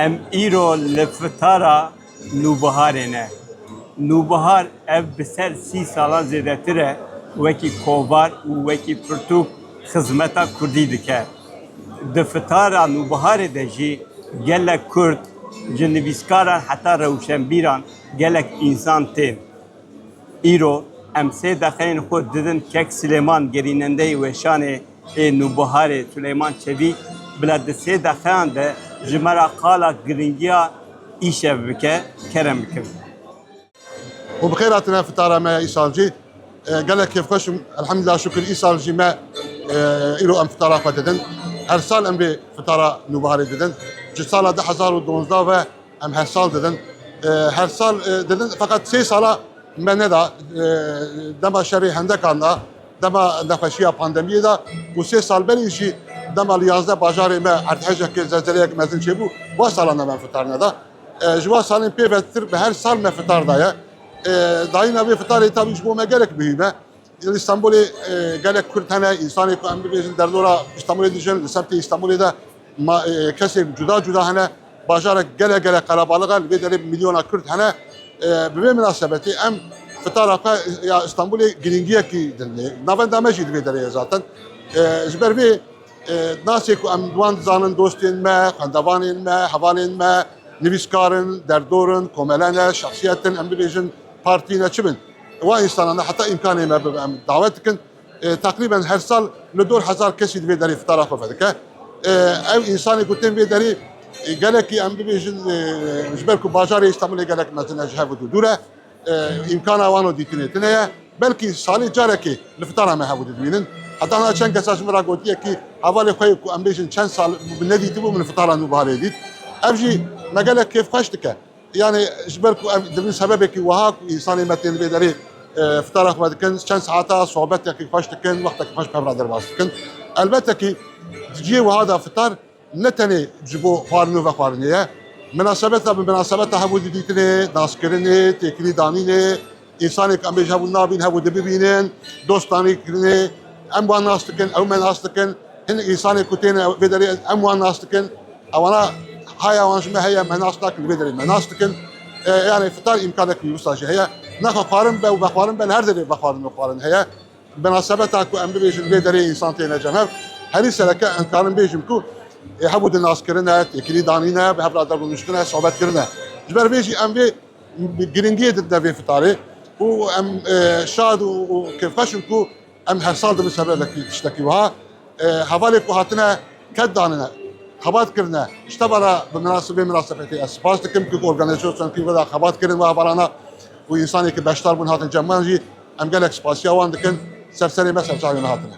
Em îro li fitara nûbiharê ne. Nûbihar ev bi ser sî salan zêdetir e wekî kovar û wekî pirtûk xizmeta kurdî dike. Di fitara nûbiharê de jî gelek kurd ji nivîskaran heta rewşenbîran gelek însan tên. Îro em sê deqeyên xwe didin kek Silêman gerînendeyê weşanê ê Nûbiharê Silêman Çevî bila di sê deqeyan de ji me ra qala giringiya îşev bike kerem bikin. Xwe bi xêr hatine fitara me ya îsal jî. Gelek kêfxweş im. Elhamdulillah şukir îsal jî me îro em fitara xwe didin. Her sal em vê fitara Nûbiharê didin. Ji sala du hezar û duwazdeh ve, Em her sal didin. Her sal didin feqet sê sala me neda dema şerê hendekan da, dema nexweşiya pandemiyê da û sê sal berî jî dema li yazdeh bajarê me erdhejekê zelzeleyek mezin çêbû wa salan da me fitar neda. Ji wa salên pê vetir bi her sal me fitar daye. Dayîna vê fitarê tabî ji bo me gelek muhîm e. Li Îstanbulê gelek Kurd hene, însanê ku em bibêjin derdora Îstanbulê dijin, li semtê Îstanbulê de kesên cuda cuda hene. Bajarek gelek gelek qelebalix e, li vê derê milyona Kurd hene. Bi vê minasebetê em fitara xwe ya Îstanbulê girîngiyekî dinê. Navenda me jî di vê derê ye zaten. Ji ber vê nasê ku em wan dizanin dostên me, xwendevanên me, hevalên me, nivîskar in, derdor in, komele ne, şexsiyet in, em bibêjin partî ne çi bin. Wan însanan de heta îmkanê me bibe em dawet dikin. Teqrîben her sal li dor hezar kesî di vê derê fitara xwe vedike. Ew însanê ku tên vê derê gelekî em bibêjin ji ber ku bajarê Îstanbulê gelek mezin e ji hev û dû dûr e. Îmkana wan û dîtinê tune ye. Belkî salê carekê li fitara me hev û dû dimînin. Heta niha çend kesa ji min re gotiye kî hevalê xwe ku em bêjin çend sal nedîtibû min li fitara nû biharê dît. Ev jî me gelek kêfxweş dike. Yanî ji ber ku ev di vî sebebekî wiha ku însanên me tên vê derê fitara xwe dikin, çend saeta sohbetekî xweş dikin, wextekî xweş bi hev re derbas dikin. Elbette kî di cihê wiha de fitar ne tenê ji bo xwarin û vexwarinê ye. Minasebeta bi minasebeta hevû didîtinê, naskirinê, têkilî danînê, Însanêk em bêje hebû nabîn hebû di bibînin, dostanî kirinê, em wan nas dikin, ew me nas dikin. Hinek însanêk ku têne vê derê em wan nas dikin. Ewana haya wan ji me heye me nas nakin li vê derê me nas dikin. Yani fitar îmkanek wisa jî heye. Naxwe xwarin be û vexwarin be li her derê vexwarin û xwarin heye. Binasebeta ku em bibêjin vê derê însan têne cem hev. Herî sereke em karin bêjim ku hebû di naskirine, têkilî danîne, bi hev re derûniştine, sobet kirine. Ji ber vê jî em vê Giringiyê didine vê fitarê û em şad û kêfxweş in ku em her sal dibin ser vê vekî tiştekî wiha. Hevalê ku hatine ket danine, xebat kirine ji te ve re bi vê minasebetê ez spas dikim ku organîzasyonên ku were xebat kirin wiha barana û însanên ku beşdar bûn hatin cem wan jî em gelek spasiya wan dikin. Ser serê me serçavên me hatine.